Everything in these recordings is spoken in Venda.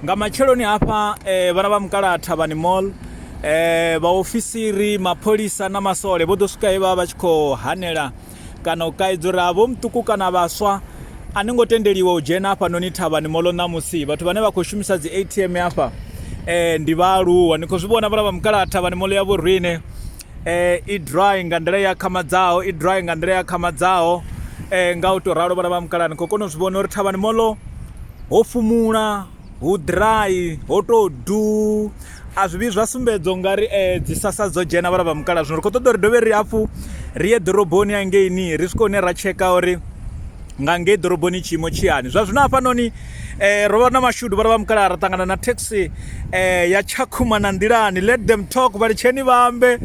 nga matsheloni hafha eh, vhana vha mukala thavhani mall eh, vhaofisiri mapholisa na masole vho ḓo swika he vha vha tshi khou hanela kana u kaidzo uri havho muṱuku kana vhaswa a ni ngo tendeliwa u dzhena hafha noni thavhani molo ṋamusi vhathu vhane vha khou shumisa dzi atm hafha um ndi vhaaluwa ni khou zwi vhona vhala vha mukalaha thavhani molo ya vho rine i dry nga nḓila i akhamadzaho i dry nga nḓila i akhamadzaho nga u tou ralo vhana vha mukala ni khou kona u zwi vhona uri thavhani molo ho fumula hu dry ho tou du a zwi vhi zwa sumbedza u nga ri dzi sasa dzo dzhena vhala vha mukala zwino ri khou ṱoḓa uri dovhe ri hafhu ri ye ḓoroboni hangeini ri swike hune ra tsheka uri nga ngei ḓoroboni tshiimo tshi hani zwa zwino hafhanoni um ro vha na mashudu vha ri vha mukalaha ra ṱangana na taxi um ya tshakhuma na nḓilani let them talk vha litsheni vha ambe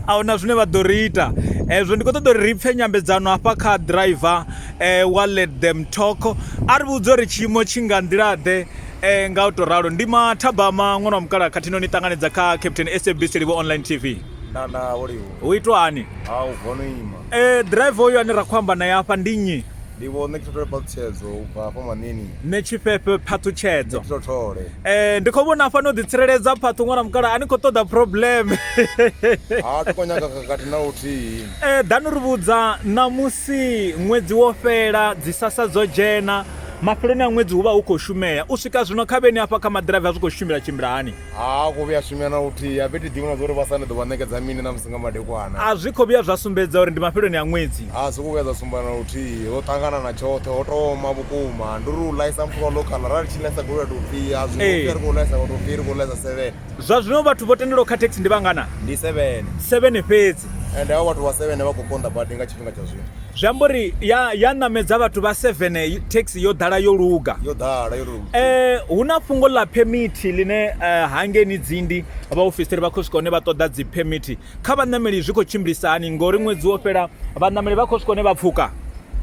a huna zwine vha ḓo ri ita hezwo ndi khou ṱoḓa uri ri pfhe nyambedzano hafha kha driver um wa let them talk a ri vhudza uri tshiimo tshi nga nḓilaḓe um nga u tou ralo ndi mathabama ṅwana wa mukalaha khathihi no ni ṱanganedza kha captain sabc livho online tv nda nda wo livho hu itwa hani ha u vono ima Ḓiraiva uyu ane ra khou amba naye afha ndi nnyi? Ndi vho Ṋekhethole Phaṱhutshedzo u bva hafha Manini. Ṋetshifhefhe Phaṱhutshedzo. Ṋekhethole. Ee, ndi khou vhona hafha no ḓitsireledza Phaṱhu ṅwana mukalaha a ni khou ṱoḓa problem. Ha thi khou nyaga khakhathi na luthihi. Ee, ḓani ri vhudza ṋamusi ṅwedzi wo fhela, dzi sassa dzo dzhena, mafheloni a ṅwedzi hu vha hu khou shumea. U swika zwino khavheni hafha kha maḓiraiva zwi khou tshimbila tshimbila hani? Ha khou vhuya swimea na luthihi, a vhe thi ḓivhi na zwa uri vha sa ni ḓo vha ṋekedza mini na musi nga madekwana. A zwi khou vhuya zwa sumbedza uri ndi mafheloni a ṅwedzi. A zwi khou vhuya zwa sumba na luthihi, ho ṱangana na tshoṱhe, ho tou oma vhukuma. Ndi uri u ḽaisa muthu wa local, ra ri tshi ḽaisa goloi a tou pfi a zwi ngo pfi ri khou ḽaisa wa tou pfi ri khou ḽaisa seven. Zwa zwino vhathu vho tendelwaho kha thekhisi ndi vhangana? Ndi seven. Seven fhedzi. Ende havha vhathu vha seven vha khou konḓa badi nga tshi. tshifhinga tsha zwino zwi amba uri ya ya ṋamedza vhathu vha seven thekhisi yo ḓala yo luga yo ḓala yo luga eh hu na fhungo ḽa phemithi line eh, hangeni dzindi vha ofisiri vha khou swika hone vha ṱoḓa dzi phemithi kha vhaṋameli zwi khou tshimbilisa hani ngori ṅwedzi wo fhela vhaṋameli vha khou swika hone vha pfuka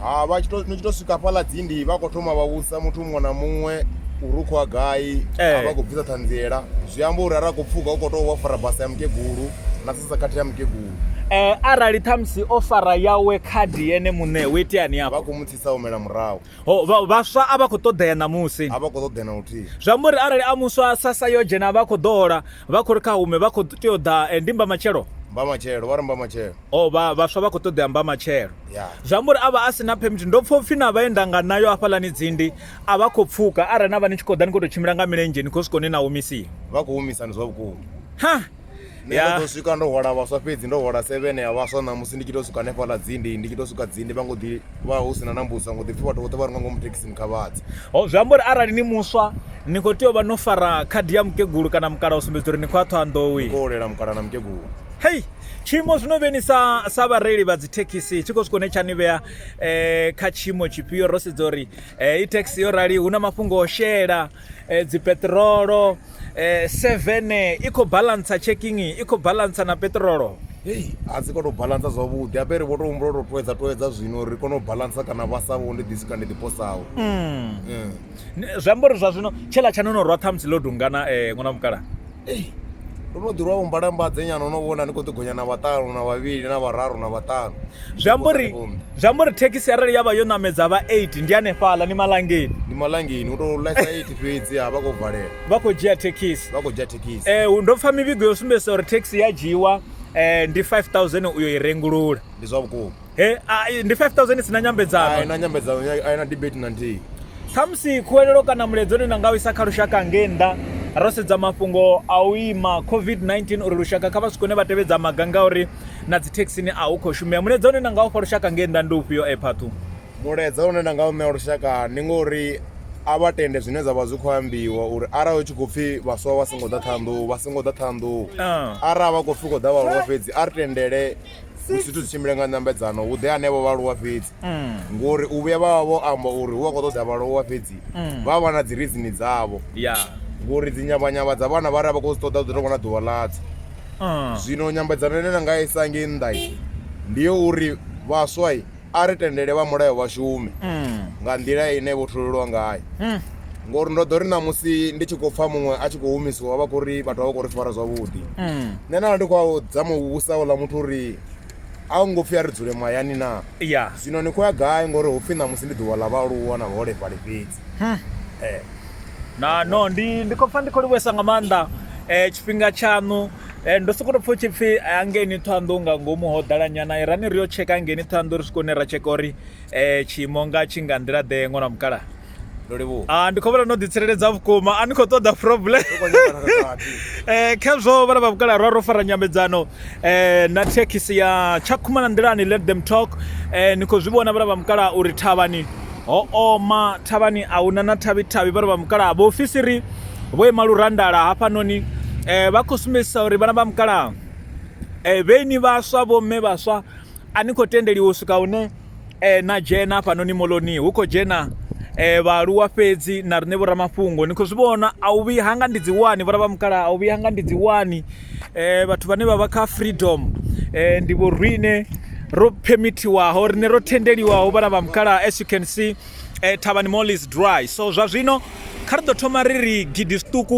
ha vha tshi to ni tshi to swika fhaḽa dzindi vha khou thoma vha vhusa muthu muṅwe na muṅwe uri u khou ya gai Eh. a vha khou bvisa ṱhanziela zwi amba uri ara khou pfuka u khou tou vha fara basa ya mukegulu na sasa kati ya mkegulu eh, arali ṱhamusi o fara yawe khadi yene muṋe hu iteani vha afho khou mu tsisa humela murahu Ho, vha- vhaswa a vha khou ṱoḓea ṋamusi a vha khou ṱoḓea na luthihi zwi amba uri arali a muswa sasa yo dzhena vha khou ḓo hola vha khou ri kha hume vha khou tea u ḓa eh, ndi mba matshelo mba matshelo vha ri mba matshelo o vha vhaswa vha khou ṱoḓea mba matshelo ya zwi amba uri a vha a si na phemithi ndo pfha upfhi na vhaenda nga nayo hafhaḽani dzindi a vha khou pfuka arali na vha ni tshi khou ḓa ni khou tou tshimbila nga milenzhe ni khou swika hune na humisiwa vha khou humisani zwa vhukuma ha nṋe Ya. ndo ḓo swika ndo hwala vhaswa fhedzi ndo hwala seven ya vhaswa ṋamusi ndi tshi to swika hanefhaḽa dzindi ndi tshi to swika dzindi vha ngo ḓi vha hu sina na mbusa ngo ḓi pfhi vhathu vhoṱhe vha re nga ngomu thekhisini kha vhadze ho zwi amba uri arali ni muswa ni khou tea u vha no fara khadi ya mukegulu kana mukala u sumbedza uri ni khou ya ṱhohanḓowi ko olela mukala na mukegulu hei tshiimo zwino vheni sa sa vhareili vha dzithekhisi tshi khou swika hune tsha ni vhea eh, kha tshiimo tshifhio ro sedza uri eh, i thekhisi yo rali hu na mafhungo o shela eh, dzipeṱirolo eh, seven i khou balantsa checking i khou balantsa na petrolo hei a si kone u balantsa zwavhuḓi ape ri vho to humbula to toedza toedza zwino ri kone u balantsa kana vha sa vho ndi ḓisi kana ndi ḓiposaho mm. mm. zwi amba uri zwa zwino tshela tsha no no rwa ṱhamusi ḽo dungana um ṅwana mukala ei ndo no ḓirwa u mbalambadze nyana no vhona ni khou ḓi gonya na vhaṱanu na vhavhili na vhararu na vhaṱanu zwi amba uri zwi amba uri thekhisi arali ya vha yo ṋamedza vha eight ndi hanefhaḽa ni malangeni ndi malangeni u to lesa eight fhedzi ha vha khou valela vha khou dzhia thekhisi vha khou dzhia thekhisi eh ndo pfha mivhigo yo sumbedzisa uri thekhisi ya dzhiwa eh ndi 5000 uyo i rengulula ndi zwa vhukuma he ndi 5000 sina nyambedzano ai na nyambedzano ai na debate na nthihi khamusi khuwelelo kana muledzo ni nga u isa kha lushaka ngei nnḓa ro sedza mafhungo a u ima covid-19 uri lushaka kha vha si kone vha tevhedza maga ngauri na dzithekhisini a hu khou shumea muledzo une na nga u fha lushaka ngei nnḓa ndi ufhio ephathu Mulaedza une nda nga u ṋea lushaka ndi ngori a vha tende zwine zwavha zwi kho ambiwa uri arali hu tshi khou pfhi vhaswa vha songo ḓa Ṱhohoyanḓou vha songo ḓa Ṱhohoyanḓou arali vha khou pfhi hu khou ḓa vhaaluwa fhedzi a ri tendele zwithu zwi tshimbile nga nyambedzano hu ḓe hanevho vhaaluwa fhedzi ngori u vhuya vha vha vho amba uri hu vha kho ṱoḓa vhaaluwa fhedzi vha vha na dzi rizini dzavho ngori dzi nyavhanyavha dza vhana vhari a vha khou zwi ṱoḓa hu ḓo tou vha na ḓuvha ḽadzo. Zwino nyambedzano ine nda nga isa ngei nnḓa ndi yo uri vhaswa a ri tendele vha mulayo vha shume nga nḓila ine vho tholelwa ngayo. Ngori ndo ḓo ri ṋamusi ndi tshi khou pfa muṅwe a tshi khou humisiwa vha khou ri vhathu a vha khou ri fara zwavhuḓi. Nṋe nda vha ndi khou a dzama u vhudzisa houḽa muthu uri a hu ngo pfhi a ri dzule mahayani naa? Ya. Zwino ni khou ya gai ngori hu pfhi ṋamusi ndi ḓuvha ḽa vhaaluwa na vhaholefhali fhedzi? Ee. Na, no, ndi, ndi khou pfa ndi khou livhuwesa nga maanḓa tshifhinga tshaṋu. Ndo sokou tou pfha hu tshi pfhi hangeini Ṱhohoyanḓou nga ngomu ho ḓala nyana irani ri yo tsheka hangeini Ṱhohoyanḓou ri swika hune ra tsheka uri tshiimo nga tshi nga nḓila ḓe ṅwana wa mukalaha ndo livhuwa ah, ndi khou vhona no ḓitsireledza vhukuma a ni khou ṱoḓa problem eh, khezwo vhana vha vhukala rwa ro fara nyambedzano eh, na thekhisi ya tshakhuma na nḓilani let them talk eh, ni khou zwi vhona vhana vha mukala uri thavhani Ho oma thavhani a huna na thavhi-thavhi, vhana vha mukalaha. Vhaofisiri vho ima lurandala hafhanoni vha khou sumbedzisa uri vhana vha mukalaha vhe ni vhaswa vho mme vhaswa a ni khou tendeliwa u swika hune na dzhena hafhanoni moloni hu khou dzhena vhaaluwa fhedzi na riṋe vho ramafhungo ni khou zwi vhona a u vhuyi hanga ndi dzi wani vhana vha mukalaha a u vhuyi hanga ndi dzi wani. eh vhathu vhane vha vha kha freedom eh ndi vho rine ro permitiwaho rine ro tendeliwaho vhana vha mukala as you can see eh thavhani mall is dry so zwa zwino kha ri ḓo thoma ri ri gidi zwiṱuku